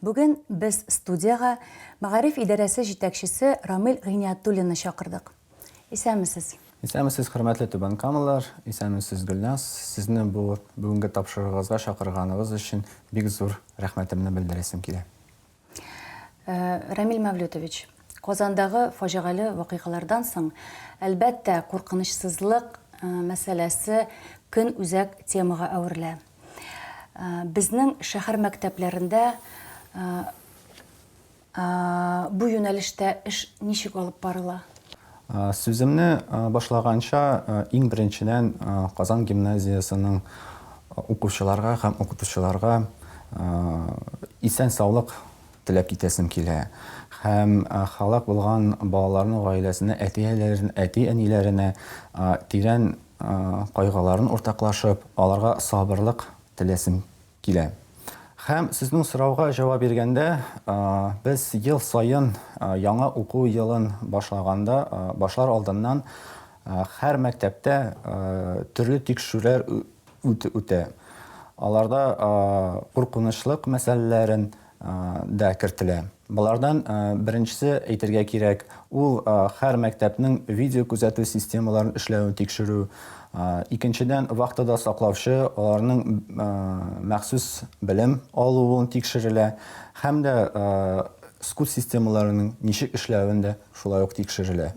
Бүген без студиягә мәгариф идарәсе җитәкчесе Рамил Гыйниятуллинны чакырдык. Исәнмесез! Исәнмесез, хөрмәтле Түбән Камалылар! Исәнмесез, Гөлназ! Сезне бу бүгенге тапшыруыгызга чакырганыгыз өчен бик зур рәхмәтемне белдерәсем килә. Рамил Мәвлүтович, Казандагы фаҗигале вакыйгалардан соң, әлбәттә, куркынычсызлык мәсьәләсе көнүзәк темага әверелә. Безнең шәһәр мәктәпләрендә бу юнәлештә эш ничек алып барыла? Сүземне башлаганча, иң беренчедән Казан гимназиясенең укучыларга һәм укытучыларга исән-саулык теләп китәсем килә. Һәм һәлак булган балаларның гаиләсенә, әти-әниләренә тирән кайгыларын уртаклашып, аларга сабырлык теләсем килә. Һәм сезнең сорауга җавап биргәндә, без ел саен яңа уку елын башлаганда, башлар алдыннан һәр мәктәптә төрле тикшерүләр үтә. Аларда куркынычлык мәсьәләләрен, да кертелә. Болардан беренчесе, әйтергә кирәк, ул һәр мәктәпнең видеокүзәтү системаларын эшләвен тикшерү. Икенчедән, вахтада саклаучы, аларның махсус белем алуын тикшерелә һәм дә скут системаларының ничек эшләвен дә шулай ук тикшерелә.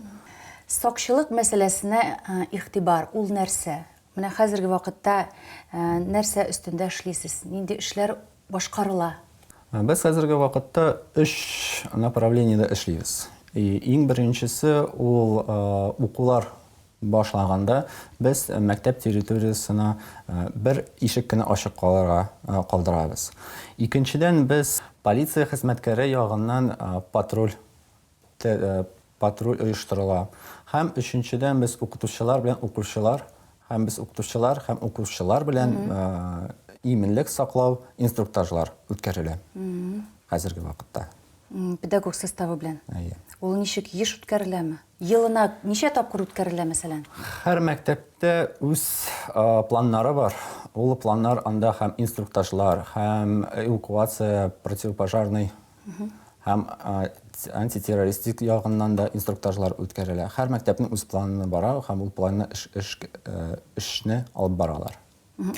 Сакчылык мәсьәләсенә игътибар, ул нәрсә? Менә хәзерге вакытта нәрсә өстендә эшлисез? Нинди эшләр башкарыла? Без хәзерге вакытта өч направлениедә эшлибез. Иң беренчесе ул укулар башлаганда без мәктәп территориясенә бер ишек кенә ачык калырга калдырабыз. Икенчедән, без полиция хезмәткәре ягыннан патруль патруль оештырыла. Һәм өченчедән без укытучылар белән укучылар һәм без укытучылар һәм укучылар белән иминлек саклау инструктажлар үткәрелә хәзерге вакытта. Педагог составы белән. Әйе. Ул ничек еш үткәреләме? Елына ничә тапкыр үткәрелә, мәсәлән? Һәр мәктәптә үз планнары бар. Ул планнар анда һәм инструктажлар, һәм эвакуация, противопожарный Һәм антитеррористик ягыннан да инструктажлар үткәрелә. Һәр мәктәпнең үз планы бара һәм ул планны эш, эш, эшне алып баралар.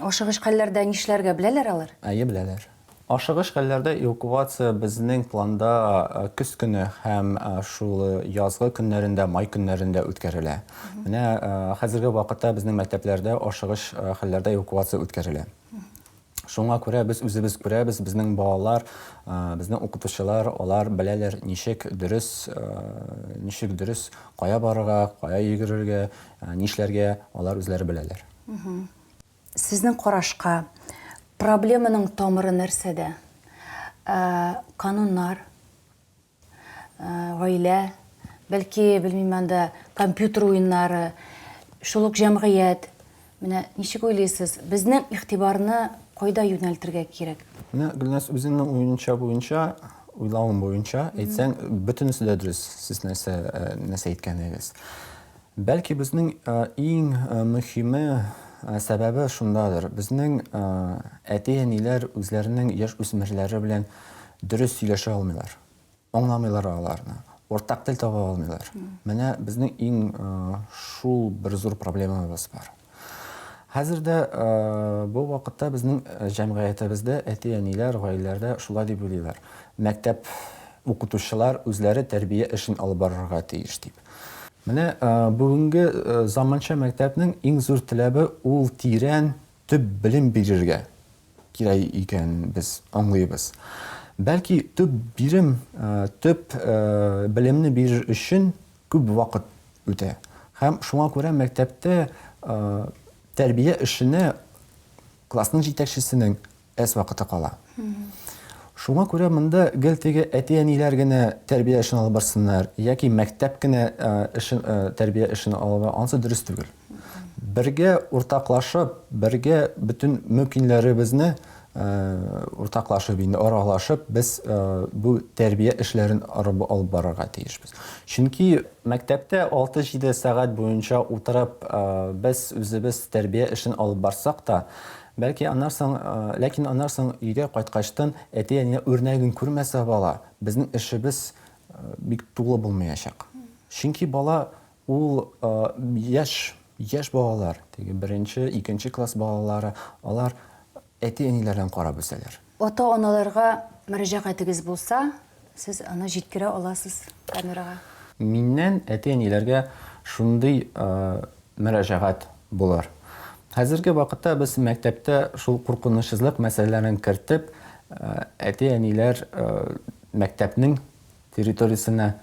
Ашыгыч хәлләрдә нишләргә беләләр алар? Әйе, беләләр. Ашыгыч хәлләрдә эвакуация безнең планда көз көне һәм шул язгы көннәрендә, май көннәрендә үткәрелә. Менә хәзерге вакытта безнең мәктәпләрдә ашыгыч хәлләрдә эвакуация үткәрелә. Шуңа күрә без үзебез күрәбез, безнең балалар, безнең укытучылар, алар беләләр, ничек дөрес, ничек дөрес кая барырга, кая йөгерергә, нишләргә, алар үзләре беләләр. Сезнең карашка, проблеманың тамыры нәрсәдә? Кануннар, гаилә, бәлки, белмим анда, компьютер уеннары, шул ук җәмгыять. Менә ничек уйлыйсыз, безнең игътибарны кайда юнәлтергә кирәк? Менә Гөлназ үзеңнең уенча буенча, уйлавың буенча әйтсәң, бөтенесе дә дөрес, сез нәрсә нәрсә әйткәнегез. Бәлки безнең иң мөхиме, сәбәбе шундадыр, безнең әти-әниләр үзләренең яшь үсмерләре белән дөрес сөйләшә алмыйлар, аңламыйлар аларны, уртак тел таба алмыйлар. Менә безнең иң шул бер зур проблемабыз бар. Хәзер дә бу вакытта безнең җәмгыятебездә әти-әниләр, гаиләләрдә шулай дип уйлыйлар, мәктәп укытучылар үзләре тәрбия эшен алып барырга тиеш дип. Менә бүгенге заманча мәктәпнең иң зур теләбе ул тирән, төп белем бирергә кирәк икән без аңлыйбыз. Бәлки төп бирем, төп белемне бирер өчен күп вакыт үтә. Һәм шуңа күрә мәктәптә тәрбия эшенә классның җитәкчесенең әз вакыты кала. Шуңа күрә монда гел теге әти-әниләр генә тәрбия эшен алып барсыннар яки мәктәп кенә эшен тәрбия эшен алып ансы дөрес түгел. Бергә уртаклашып, бергә бөтен мөмкиннәребезне уртаклашып инде аралашып без бу тәрбия эшләрен арып алып барырга тиешбез. Чөнки мәктәптә 6-7 сәгать буенча утырып без үзебез тәрбия эшен алып барсак та, Бәлки аннан соң, ләкин аннан соң өйгә кайткачтын әти-әнинең үрнәген күрмәсә бала, безнең эшебез бик тулы булмаячак. Чөнки бала ул яшь, яшь балалар, теге беренче, икенче класс балалары, алар әти-әниләрдән карап үсәләр. Ата-аналарга мөрәҗәгатегез булса, сез аны җиткерә аласыз камерага. Миннән әти-әниләргә шундый мөрәҗәгать булыр. Хәзерге вакытта без мәктәптә шул куркынычсызлык мәсьәләләрен кертеп, әти-әниләр мәктәпнең территориясенә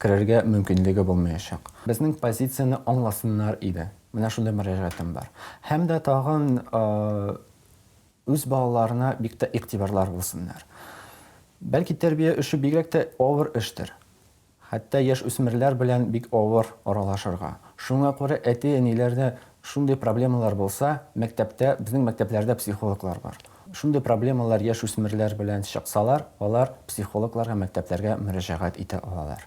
керергә мөмкинлеге булмаячак. Безнең позицияне аңласыннар иде. Менә шундый мөрәҗәгатем бар. Һәм дә тагын Үз балаларына бик тә игътибарлар булсыннар. Бәлки тәрбия эше бигрәк тә авыр эштер. Хәтта яшь үсмерләр белән бик авыр аралашырга. Шуңа күрә әти-әниләрдә шундый проблемалар булса, мәктәптә, безнең мәктәпләрдә психологлар бар. Шундый проблемалар яшь үсмерләр белән чыксалар, алар психологларга мәктәпләргә мөрәҗәгать итә алалар.